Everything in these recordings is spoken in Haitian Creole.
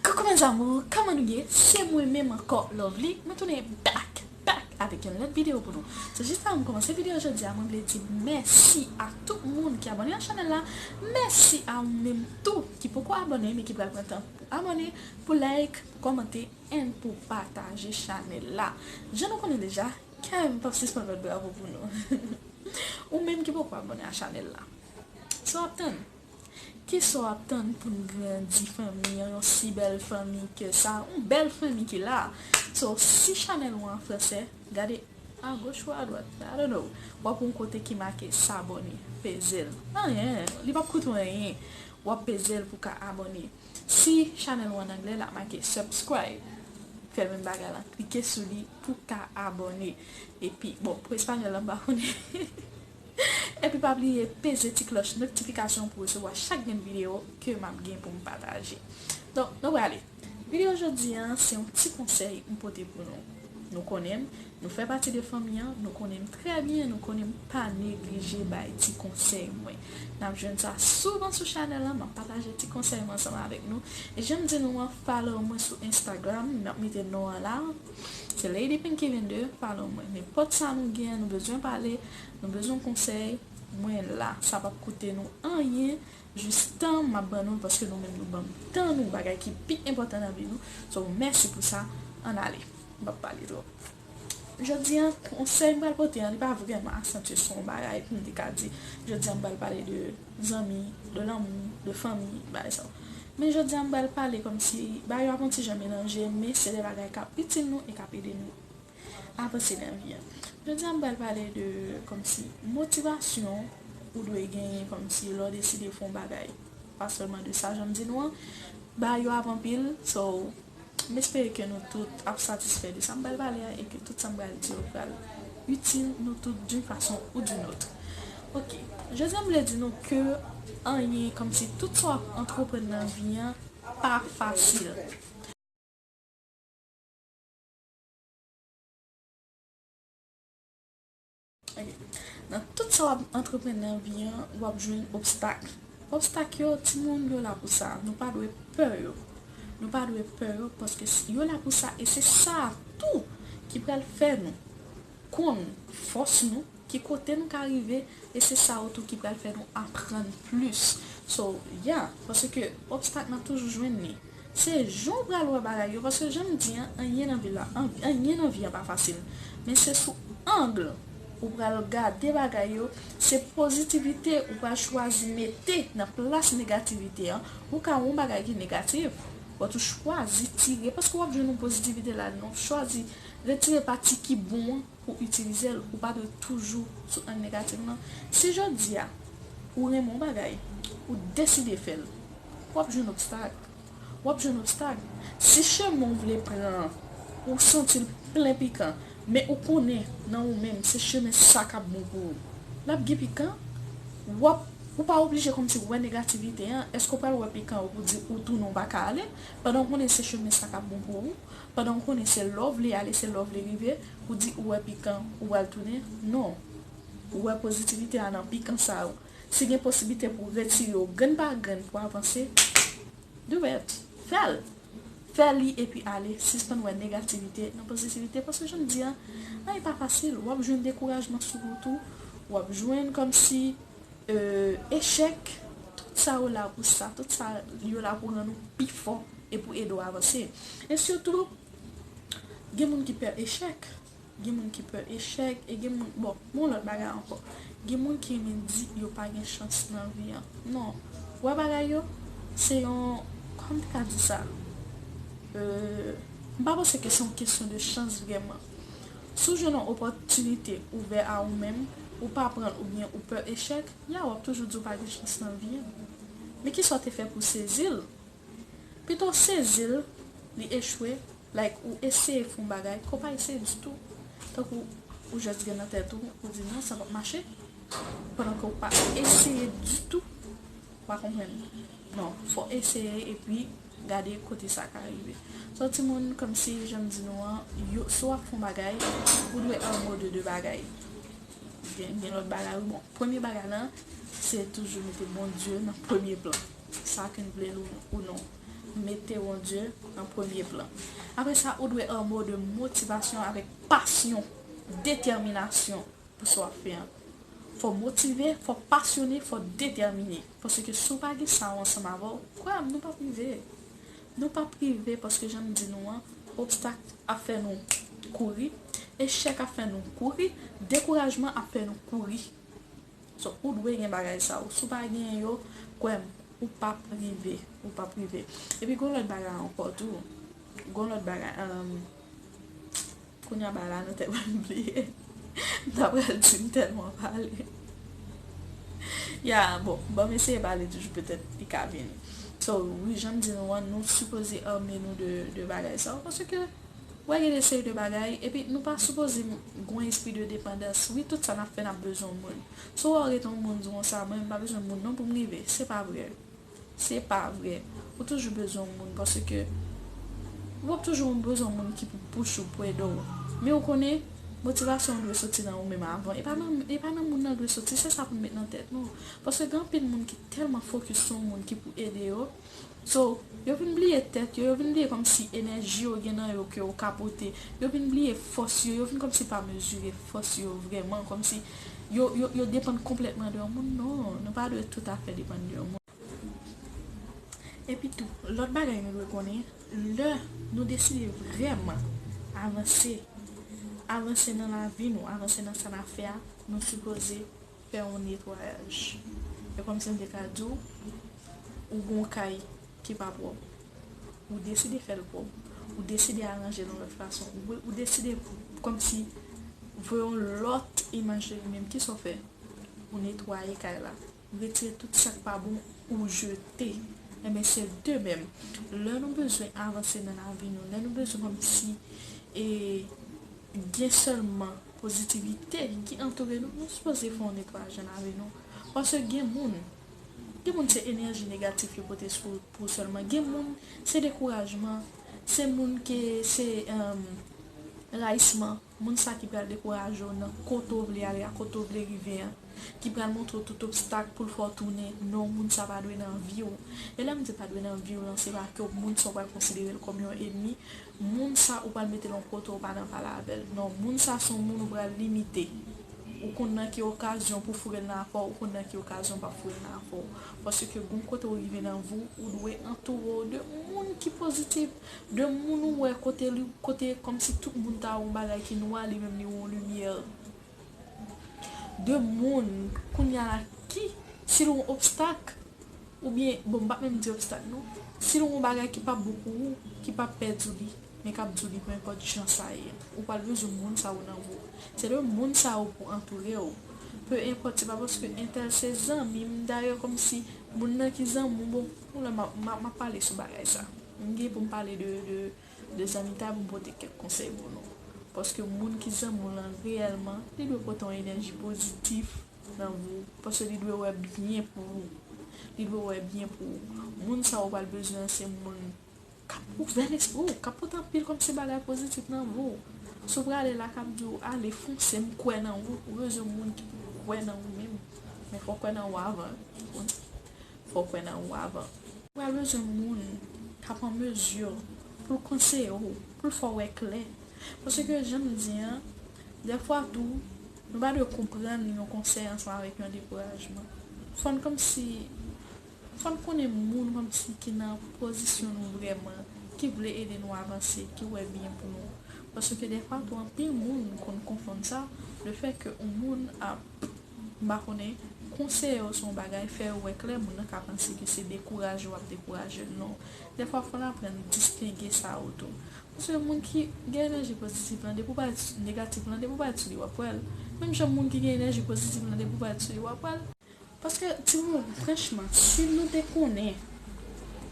Coucou mes amours kòman nou ye se mwen menm ankò Lovely mwen tounen back back avèk yon lòt video pou nou sou jis avan m kòmanse video jodi a mwen vle di mèsi a tout moun ki abòne ak chanèl la mèsi a ou menm tou ki poko abòne men ki pral pran tan pou abòne pou like pou kòmante and pou pataje chanèl la jan nou konnen deja kèm pap sispann bat bravo pou nou ou menm ki poko abòne a chanèl la sa wap tann. Kisa w ap tann pou n grandi fanmi an yon si bèl fanmi ke sa yon bèl fanmi ki la so si chanèl ou an fransè gade agoch ou adwat I don't know w ap wè yon kote ki make sabone peze l anyen li p ap koute w anyen w ap peze l pou w ka abòne si chanèl ou an anglè l ap make subscribe fè menm bagay lan klike sou li pou w ka abòne epi bon pou espanyòl la m pa konnen. Epi pa bliye peze ti klòch noktifikasyon pou resevwa chak grenn videyo ke map gen poum pataje Donk nou prale Videyo jodi an se yon ti konsèy m pote pou nou Nou konnen m, nou fè pati de fanmi an, nou konnen m trè byen, nou konnen m pa neglije bay ti konsèy mwen Nap jwenn sa souvan sou chanèl lan, map pataje ti konsèy mwen ansanm avèk nou Janm di nou an follow mwen sou Instagram, map mete non an la. Se Lady Pink ki vin de palo mwen. Nenpòt sa nou gen, nou bezwen pale, nou bezwen konsèy, mwen la. Sa pap koute nou anyen, jis tan m ap ban nou l paske nou menm nou ban m tan nou, bagay ki pi enpòtan nan vi nou. So, mèsi pou sa. Ann ale. M pap pale twòp. Jodi an, konsèy m pral pote an, li pa vrèman asantye sou yon bagay pou m te ka di jodi an m pral pale de zanmi, de lanmou, de fanmi, bagay sa yo. Men jodi a m pral pale kòmsi bagay yo ap yon ti jan melanje men se de bagay k ap itil nou e k ap ede nou avanse nan vi a. Jodi a m pral pale de kòmsi motivasyon ou dwe genyen kòmsi lè w deside fè yon bagay pa sèlman de sa jan m di nou an bagay yo ap anpil so. M espere ke nou tout ap satisfè de sa m pral pale a e ke tout sa m pral di yo pral itil nou tout d'une façon ou d'une autre. Ok, jodi a m vle di nou ke anyen, kòmsi tout sa w ap antreprann nan vi an pa fasil. Nan tout sa wap antreprann nan vi an wap jwenn obstak Obstak yo timoun yo la pou sa Nou pa dwe pè yo Nou pa dwe pè yo paske yo la pou sa e se sa tou ki pral fè nou konn fòs nou ki kote nou ka rive e se sa yo tou ki pral fè nou aprann plis So ya paske obstak nap toujou jwenn li. Se jan w pral wè bagay yo paske jan m di an anyen nan vi la anyen nan vi a pa fasil men se sou angle ou pral gade bagay yo se pozitivite ou pral chwazi mete nan plas negativite an ou ka wè yon bagay ki negatif but ou chwazi tire paske wap jwenn yon pozitivite ladan wap chwazi retire pati ki bon an pou itilize l ou pa dwe toujou sou ang negatif lan si jodi a ou renmen yon bagay ou deside fè l. w ap jwenn obstak. W ap jwenn obstak. Si chemen w vle pran an, ou santi l plen pikan, men ou konnen nan ou menm se chemen sa k ap bon pou ou, l ap gen pikan. W ap, ou pa oblije kòmsi wè negativite an, èske w pral wè pikan yo pou di ou tounen ou pa ka ale, pandan ou konnen se chemen sa k ap bon pou ou, pandan ou konnen se la w vle ale, se la w vle rive, pou di ou wè pikan, ou pral tounen? Non. Ou wè pozitivite a nan pikan sa yo. Si gen posiblite pou retire yo grenn pa grenn pou avanse, do it! Fè l! Fè li epi ale, sispann wè negativite nan pozitivite paske jan m di an, anyen pa fasil, w ap jwenn dekourajman sou wout ou, w ap jwenn kòmsi echèk, tout sa yo la pou sa, tout sa yo la pou rann ou pi fò e pou ede w avanse. E sitou, gen moun ki pè echèk. Gen moun ki pè echèk e gen moun bon gen yon lòt bagay ankò gen moun ki renmen di yo pa gen chans nan vi an non ou wè bagay yo se yon kòman m te ka di sa m pa panse ke se yon kesyon de chans vrèman si w jwenn yon opòtinite ouvè a ou menm ou pa pran l oubyen ou pè echèk ya w ap toujou di w pa gen chans nan vi an men kisa w te fè pou w sezi l pito w sezi l li echwe Like ou eseye fon bagay ke w pa eseye ditou, tankou ou just gen nan tèt ou, ou di non sa pap mache, pandan ke w pa eseye ditou, ou pa konprann, non fò w eseye epi gade kote sa ka rive. So timoun komsi jan m di nou an, yo si wap fon bagay, ou dwe anmo de 2 bagay, gen gen lòt bagay wi bon, premye bagay lan se toujou mete Bondye nan premye plan, sa ke n vle l ou non. Mete Bondye an premye plan. Apre sa, ou dwe anmou de motivasyon avèk pasyon, detèminasyon pou sa w ap fè an. Fò w motive, fò w pasyone, fò w detèmine. Paske si w pa gen sa yo ansanm avè w, kwè m, nou p ap rive. Nou p ap rive paske jan m di nou an, obstak ap fè nou kouri, echèk ap fè nou kouri, dekourajman ap fè nou kouri. So ou dwe gen bagay sa yo. Si w pa genyen yo, kwè m, ou p ap rive. Ou p ap rive. E pi gen yon lòt bagay ankò tou. Gen yon lòt bagay. Kounya bagay la nan tèt mwen m bliye. M ta pral di m tèlman pale. Ya, bon, ban m eseye pale toujou petèt li ka vini. So, wi, jan m di nou an, nou sipoze ame nou de bagay sa yo. Paske. Wè gen de seri de bagay epi nou pa sipoze gwen espri de depandans wi tout sa nap fè nap bezwen yon moun si w wè w rete yon moun di w sa mwen m pa bezwen moun non pou m rive se pa vre se pa vre ou toujou bezwen yon moun paske wap toujou bezwen yon moun ki pou pouche w pou ede w men ou konnen motivasyon an dwe soti nan ou menm avan e pa nan moun nan dwe soti se sa pou nou met nan tèt nou paske gen anpil moun ki tèlman fokis sou yon moun ki pou ede yo So, yo vin bliye tèt yo, yo vin bliye kòmsi enèji yo gen nan yo ke yo ka pote, yo vin bliye fòs yo, yo vin kòmsi pa mezire fòs yo vrèman, kòmsi yo, yo, yo depann konplètman de yon moun. Non, nou pa dwe toutafè depann de yon moun. Epitou, lòt bagay nou dwe konnen, lè nou deside vrèman avanse, avanse nan lavi nou, avanse nan sa n ap fè a, nou sipoze Fè yon netwayaj. E kòmsi m te ka di w, ou gen yon kay ki pa pwòp, ou deside fè l pwòp, ou deside aranje l yon lòt fason, ou deside kòmsi voye yon lòt imaj de li menm, ki sa w fè? Ou netwaye kay la, ou retire tout sa k pa bon, ou jete. Enben se de menm, lè nou bezwen avanse nan lavi nou, lè nou bezwen kòmsi e gen sèlman. Pozitivite ki antoure nou, nou sipoze fè yon netwayaj nan lavi nou. Paske gen moun, gen moun se enèji negatif yo pote sou pou sèlman. Gen moun se dekourajman, se moun ke se rayisman. Moun sa ki pral dekouraje w nan kote w vle ale a, kote w vle rive an. Ki pral montre w tout obstak pou l fè w tounen. Non, moun sa pa dwe nan vi w. E lè m di pa dwe nan vi w lan, se pa ke w moun sa w pral konsidere l kòm yon enmi. Moun sa ou pral metel yon kote ou pa nan pale avèl non moun sa son moun ou pral limite ou konn nan ki okazyon pou fourel nan afèw ou konn nan ki okazyon ou pap fourel nan afèw paske gon kote ou rive nan viw ou dwe antourew de moun ki pozitif de moun ou wè kote kote kòmsi tout moun ta wè yon bagay ki nwa li menm li wè yon limyè. 2 moun kounya la ki si l yon obstak oubyen bon m pa menm di obstak non si l yon bagay ki pap bon pou ou ki pap pè di w li men kap di w li penenpòt jan sa ye ou pral bezwen moun sa yo nan vi w se 2 moun sa yo pou antoure w penenpòt se pa paske entèl se zanmi m dayè kòmsi moun nan ki zanmi w bon pou lè map pale sou bagay sa m gen pou m pale de De Zanmitha pou m pote kèk konsèy pou nou. Paske moun ki zanmi w lan reyèlman, li dwe pote yon enèji pozitif nan vi w, paske li dwe wè byen pou ou. Li dwe wè byen pou ou. Moun sa ou pral bezwen an se moun k ap ouvè lespri w, k ap pote anpil kòmsi bagay pozitif nan vi w. Si w prale la, k ap di w, ale, fonse, m kwè nan ou. Ou bezwen moun ki pou kwè nan ou menm. Men fò w kwè nan ou avan. Fò w kwè nan ou avan. Ou pral bezwen moun k ap an mezi pou l konseye w, pou l fè w wè klè. Paske jan m di an, dèfwa tou, nou pa dwe konprann yon konsèy ansanm avèk yon dekourajman. Fò n kòmsi, fò n konnen moun kòmsi ki nan pozisyon nou vrèman, ki vle ede nou avanse, ki wè byen pou nou. Paske dèfwa tou anpil moun konn konfonn sa, lefètke yon moun ap. M pa konnen, konseye w sou yon bagay, fè yo wè klè, moun nan ka panse ke se dekouraje w ap dekouraje l. Non. Dèfwa fò n aprann distenge sa yo tou. Paske moun ki gen enèji pozitif lan, depi w pale sou negatif lan, depi w pale sou li w ap wè l. Menm jan moun ki gen enèji pozitif lan, depi w pale sou li w ap wè l. Paske timoun, franchman, si nou te konnen.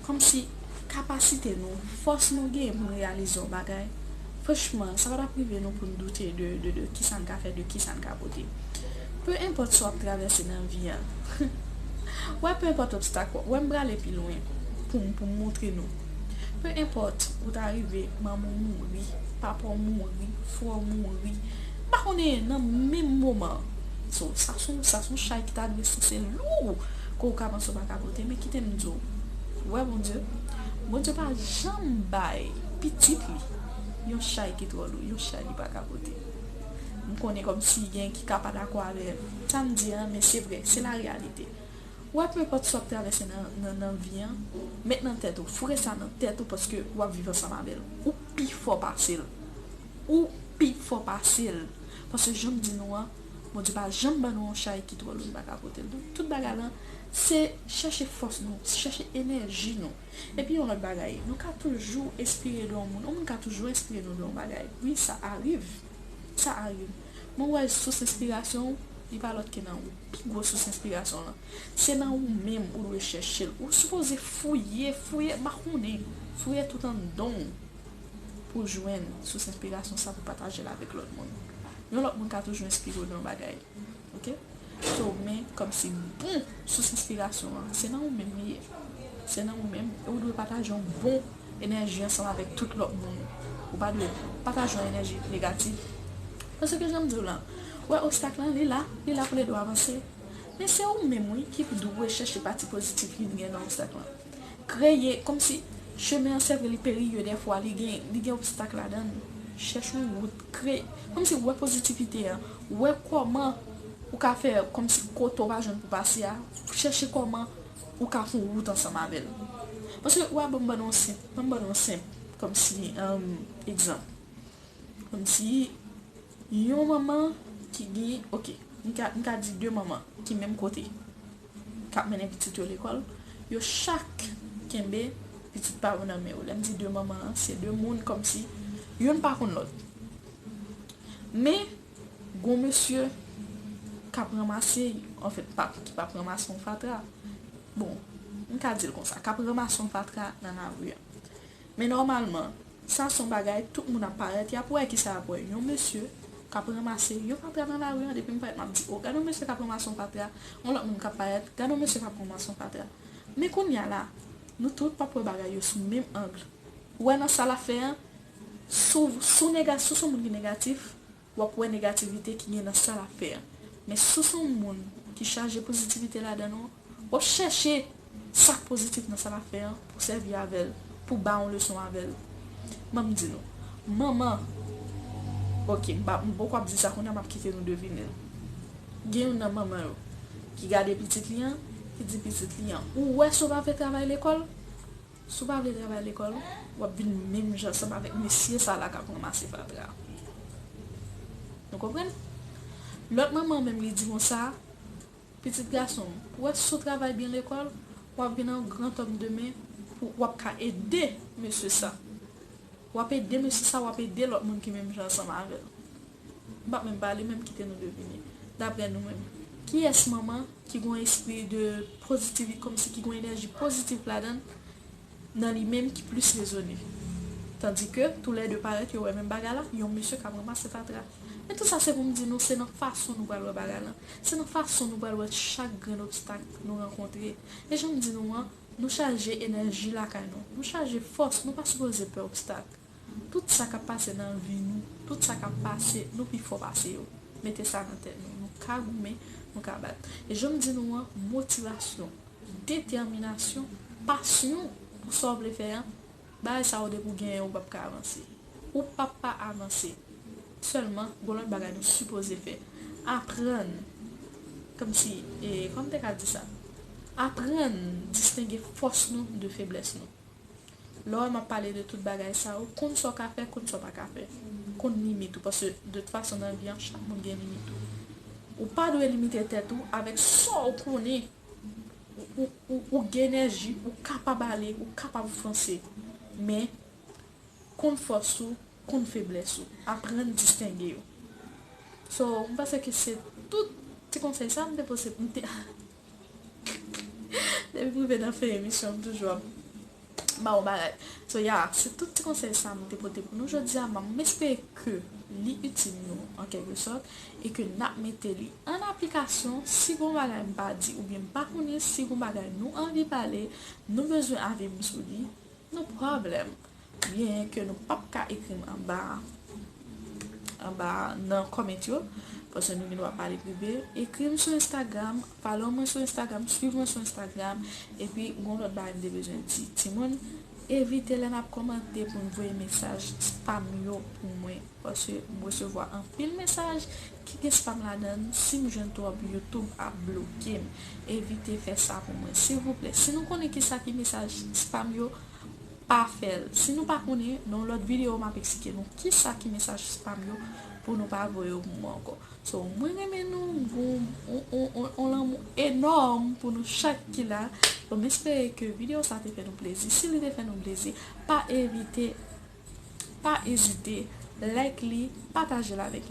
Kòmsi kapasite nou, fòs nou genyen pou n reyalize yon bagay, franchman, sa pa ta p rive nou pou n doute de ki sa n ka fè, de ki sa n ka pote. Pe enpòt sa w ap travèse nan vi a, wè, pe enpòt obstak w ap, wè m prale pi lwen pou m montre nou, pe enpòt ou ta rive manman w mouri, papa w mouri, frè w mouri, m pa konnen, nan menm moman, sa s on chay ki ta dwe souse lou! Ke w ka panse w pa ka pote men kite m di w ou wè Bondye Bondye pa janm bay pitit li yon chay ki twò lou yon chay li pa ka pote m konnen kòmsi gen ki ka pa dakò avè sa m di a men se vre se la reyalite ou wè penpòt sa w ap travèse nan vi an met nan tèt ou foure sa nan tèt ou paske w ap viv ansanm avè l ou pi fò pase l ou pi fò pase l paske jan m di nou an. Bondye pa janm ban nou yon chay ki twò lou nou pa ka pote l. Donk tout bagay lan se chèche fòs nou, chèche enèji nou. Epi yon lòt bagay, nou ka toujou enspire de yon moun, yon moun ka toujou enspire nou de yon bagay. Wi sa ariv, sa ariv. Men w wè sous enspirasyon w, li pa lòt ke nan ou. Pi gwo sous enspirasyon w lan, se nan ou menm ou dwe chèche l. Ou sipoze fouye, fouye makonnen, fouye tout anndan w. Pou jwenn sous enspirasyon sa pou pataje l avèk lòt moun. Yon lòt moun ka toujou enspire w nan yon bagay. Ok? So, men kòmsi bon sous enspirasyon an, se nan ou menm li ye. Se nan ou menm e ou dwe pataje yon bon enèji ansanm avèk tout lòt moun. Ou pa dwe pataje yon enèji negatif. Paske jan m di w lan, ou wè obstak lan, li la, li la pou l ede w avanse. Men se ou menm wi ki dwe chèche pati pozitif ki vin gen nan obstak lan. Kreye, kòmsi, chemen an sevre li periyeu dèfwa li gen li gen obstak ladann chèch yon wout kre kòmsi wè pozitivite an wè kòman ou ka fè kòmsi kote ou pa jwenn pou pase a chèche kòman ou ka fon wout ansanm avèl paske wè banm bannou yon senp banm bannou yon senp kòmsi humm egzanp kòmsi yon manman ki gen ok mka mka di deu manman ki menm kote. k ap mennen pitit yo lekòl, yo chak kenbe pitit pa yo nan men yo. Lè m di de manman an, se de moun kòmsi youn pa konn lòt. Men, gon mesye k ap ranmase, anfèt, ki p ap ranmase yon fatra, bon, m ka di l konsa, k ap ranmase yon fatra nan lari a. Men nòmalman, sa son bagay tout moun ap parèt, yap wè kisa yap wè, yon mesye kap ranmase yon fatra nan lari an, depi m parèt map di oh gad yon mesye kap ranmase yon fatra, yon lòt moun kap parèt, gad yon mesye kap ranmase yon fatra. Men kounya la, nou tout pap wè bagay yo sou menm angle. Ou wè nan sa lap fè an, sou sou nega sou sou moun ki negatif, wap wè negativite ki gen nan sa lap fè an men si w se yon moun ki chaje pozitivite ladan w wap chèche sak pozitif nan sa lap fè an pou sèvi avè l pou ba yon leson avè l banm di nou manman ok m pa m poko ap di sa kounye a map kite nou devine l gen youn nan manman yo ki gade pitit li an ki di pitit li an ou wè si w pa fè travay lekòl Si w pa vle travay lekòl, w ap vin menm jan ansanm avèk mesye sa la k ap ranmase fatra. Nou konprann? Lòt manman an menm li di konsa, Pitit gason m, ou wè si w travay byen lekòl, w ap vin yon grantòm demen pou w ap ka ede mesye sa. W ap ede mesye sa, w ap ede lòt moun ki menm jan ansanm avè l. M pa menm pale menm kite nou devine. Daprè nou menm. Kiyès manman ki gon espri de pozitivi kòmsi ki gon enèji pozitif ladann nan li menm ki plis rezone. Tandi ke tou lè 2 parèt yo wè menm bagay la, yon mesye kap ranmase fatra. Men tou sa se pou m di nou se nan fason nou pral wè bagay lan. Se nan fason nou pral wè chak grenn obstak nou rankontre. E jan m di nou an, nou chaje enèji lakay nou. Nou chaje fòs, nou pa sipoze pè obstak. Tout sa kap pase nan vi nou, tout sa kap pase, nou pi fò pase yo. Mete sa nan tèt nou. Nou ka goumen, nou ka bat. E janm di nou an, motivasyon, detèminasyon, pasyon pou sa w vle fè an, bagay sa yo depi w genyen ou pap ka avanse. Ou pap pa avanse. Sèlman, gon lòt bagay nou sipoze fè. Aprann, kòm si, e kòman m te ka di sa? Aprann distenge fòs nou de feblès nou. Lè w wè m ap pale de tout bagay sa yo, konn sa w ka fè, konn sa w pa ka fè. Konn limit ou, paske de tout fason nan vi an, chak moun gen limit ou. Ou pa dwe limite tèt ou avèk sa w konnen ou gen enèji, ou kapab ale, ou kapab fonse. Men, konn fòs ou, konn feblès ou. Aprann distenge yo. So, m panse ke se tout ti konsèy sa m te pose, m te. Depi m rive nan fen emisyon m toujou ap ba ou bagay So ya se tout ti konsèy sa m te pote pou nou jodi a M espere ke li itil nou an kèlke sòt e ke n ap mete li an aplikasyon Si gon bagay m pa di oubyen m pa konnen, si gon bagay nou anvi pale, nou bezwen avi m sou li, no problem. Byen ke nou pap ka ekri m anba a anba a nan comment yo paske nou gen dwa pale prive ekri m sou instagram follow mwen sou instagram swiv mwen sou instagram epi gon lòt bagay m te bezwen di timoun evite lè nap kòmante pou n voye mesaj spam yo pou mwen paske m resevwa anpil mesaj ki gen spam ladan l si m jwenn twòp youtube ap bloke m evite fè sa pou mwen silvouplè si nou konnen kisa ki mesaj spam yo. Pa fèl si nou pa konnen nan yon lòt video map eksplike nou kisa ki mesaj spam yo pou nou pa voye yo pou mwen ankò so mwen renmen nou m gou on lanmou enòm pou nou chak ki la bon m espere ke video sa te fè nou plezi si li te fè nou plezi pa evite pa ezite like li patajel avèk yon.